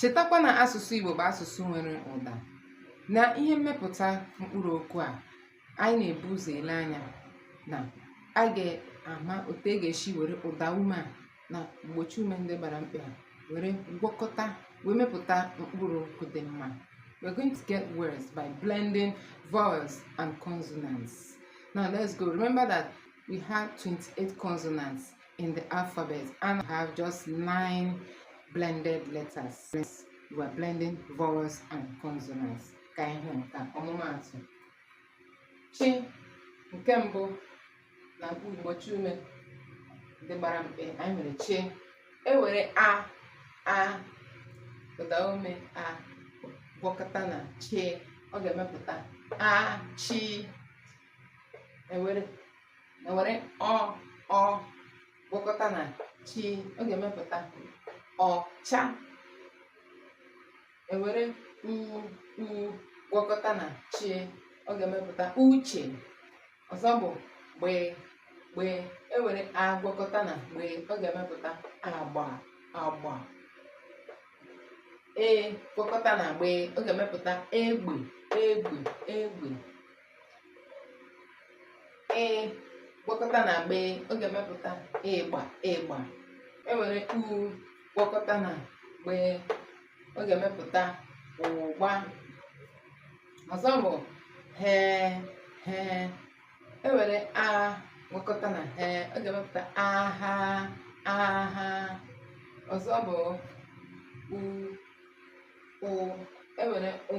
Chetakwa na asụsụ Igbo bụ asụsụ nwere ụda na ihe mmepụta mkpụrụ okwu a anyị na-ebu ụzọ ele anya na a ga-ama otu e ga-esi were ụda ume a na mgbochi ume ndị gbara mkpị a were gwakọta wee mepụta mkpụrụ okwu dị mma. We're going to get words by blending vowels and consonants. Now let's go. Remember that we have 28 consonants. in the alphabet and have just nine blended letters. You are blending vowels and consonants. Ka anyị hụ ọmụmaatụ. Chi nke mbụ na mgbochi ume ndị gbara mkpị anyị nwere chi e were a ụda ume a gwakọta na chi ọ ga-emepụta achi e were e were ọ ọ gwakọta na chi ọ ga-emepụta ọcha e were u u gwakọta na chi ọ ga-emepụta uche ọzọ bụ gbe gbe e were a gwakọta na gbe ọ ga-emepụta agba agba e gwakọta na gbe ọ ga-emepụta egbe egbe egbe ị gwakọta na gbe ọ ga-emepụta ịgba ịgba e were ụ gwakọta na gbe ọ ga-emepụta ụgba ọzọ bụ ghe ghe e were a gwakọta na ghe ọ ga-emepụta agha agha ọzọ bụ u o e were o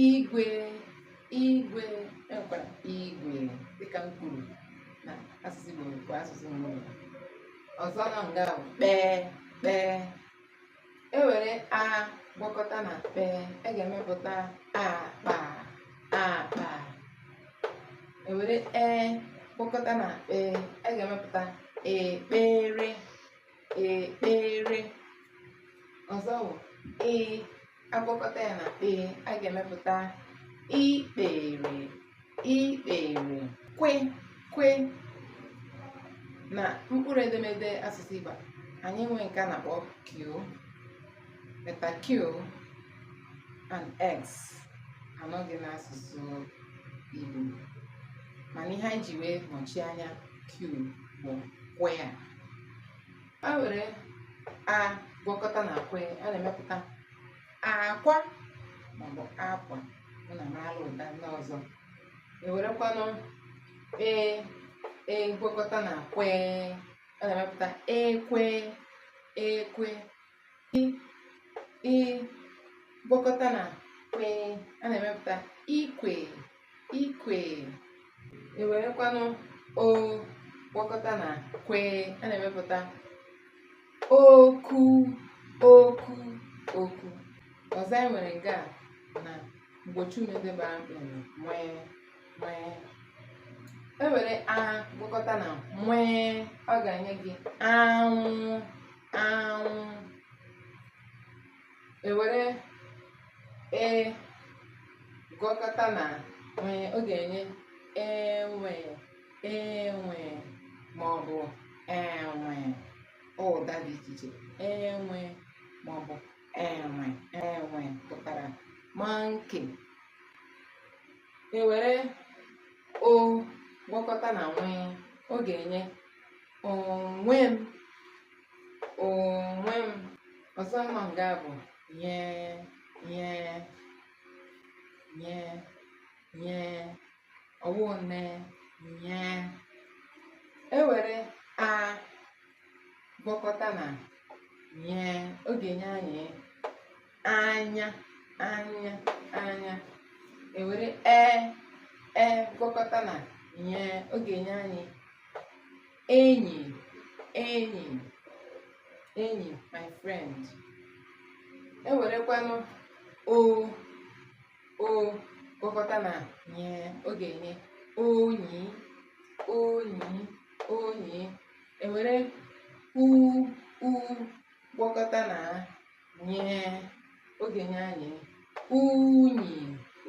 igwe igwe e nwekwara igwe dịka m kwuru na asụsụ Igbo bụ asụsụ mbụ ọzọ nọ nga bụ kpee kpee e were a gwakọta na kpee e ga-emepụta akpa akpa e were e gwakọta na kpee e ga-emepụta ekpere ekpere ọzọ bụ i a gwakọta ya na kpee a ga-emepụta ikpere ikpere kwe kwe na mkpụrụ edemede asụsụ Igbo anyị nwee nke a na-akpọ q letter q and x anọghị n'asụsụ Igbo mana ihe anyị ji wee nọchie anya q bụ kwe ya a were a gwakọta na kwe, a na-emepụta akwa maọbụ akwa unu amara ụda ndị ọzọ ewerekwanụ e e gwakọta na kwe a na-emepụta ekwe ekwe i i gwakọta na kwe a na-emepụta ikwe ikwe ewerekwanụ o gwakọta na kwe a na-emepụta okwu okwu okwu ọzọ anyị nwere nga a na mgbochiume ndị gbara mkpị nwee nwee e were a gwakọta na nwee ọ ga-enye gị anwụ anwụ ewere e gwakọta na nwee ọ ga-enye enwe enwe ma ọ bụ enwe ụda dị iche iche enwe ma ọ bụ enwe enwe pụtara monkey ewere o gwakọta na nwee ọ ga-enye onwe m onwe m ọzọ nọ nga a bụ nye nye nye nye ọ wụ nne nye ewere a gwakọta na nye ọ ga-enye anyị anya anya anya ewere e e gwakọta na nye ọ ga-enye anyị enyi enyi enyi my friend ewerekwanụ o o gwakọta na nye ọ ga-enye onyi onyi onyi ewere u u gwakọta na nye ọ ga-enye anyị unyi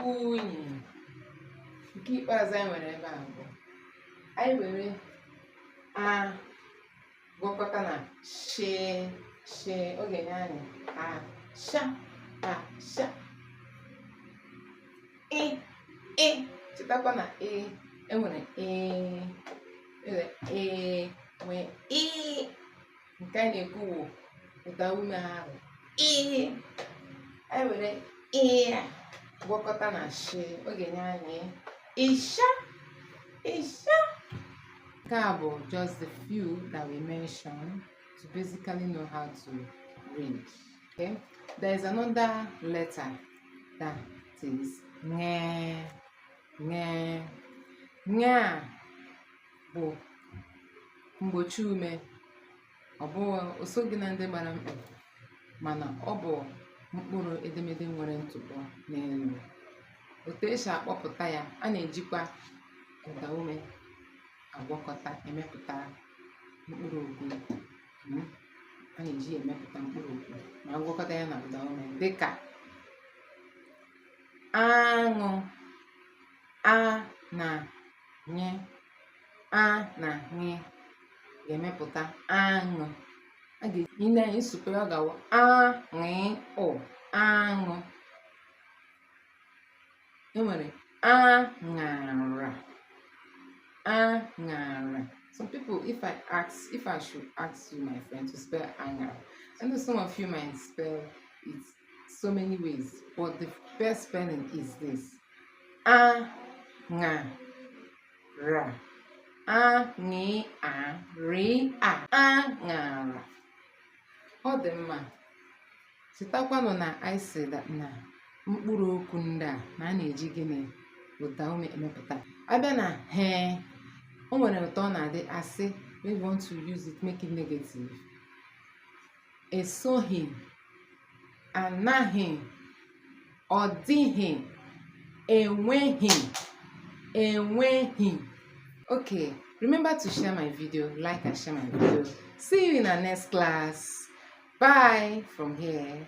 unyi nke ikpeazụ anyị nwere ebe a bụ anyị were a gwakọta na shi shi ọ ga-enye anyị asha asha ị ị chetakwa na enwere ị enwere ị nwee ị nke a na-ekwu wụ ụdaume ahụ ị anyị were ị gwakọta na shi ọ ga-enye anyị ịsha ịsha nke a bụ just the few that we mentioned to basically know how to read okay there is another letter that is nye nye nye a bụ mgbochi ume ọ bụghị o soghị na ndị gbara mkpị mana ọ bụ mkpụrụ edemede nwere ntụpọ n'elu otu e si akpọpụta ya a na-ejikwa ụda ume agwakọta emepụta mkpụrụ okwu hmm? a na-eji emepụta mkpụrụ okwu ma a gwakọta ya na ụda ume dịka aṅụ a na ṅị a na ṅị ga-emepụta aṅụ a ga-eji na ịsụpe ọ ga-awụ aṅụ aṅụ e nwere aṅara aṅara some people if i ask if i should ask you my friend to spell aṅara i know some of you might spell it so many ways but the best spelling is this a ṅa ra a ṅị a rị a a ṅara ọ dị mma chetakwanụ na anyị sị na mkpụrụ okwu ndị a na a na-eji gịnị ụda ume emepụta a bịa na ghị o nwere otu ọ na-adị a sị we want to use it make it negative esoghị anaghị ọ dịghị enweghị enweghị okay remember to share my video like and share my video see you in our next class bye from here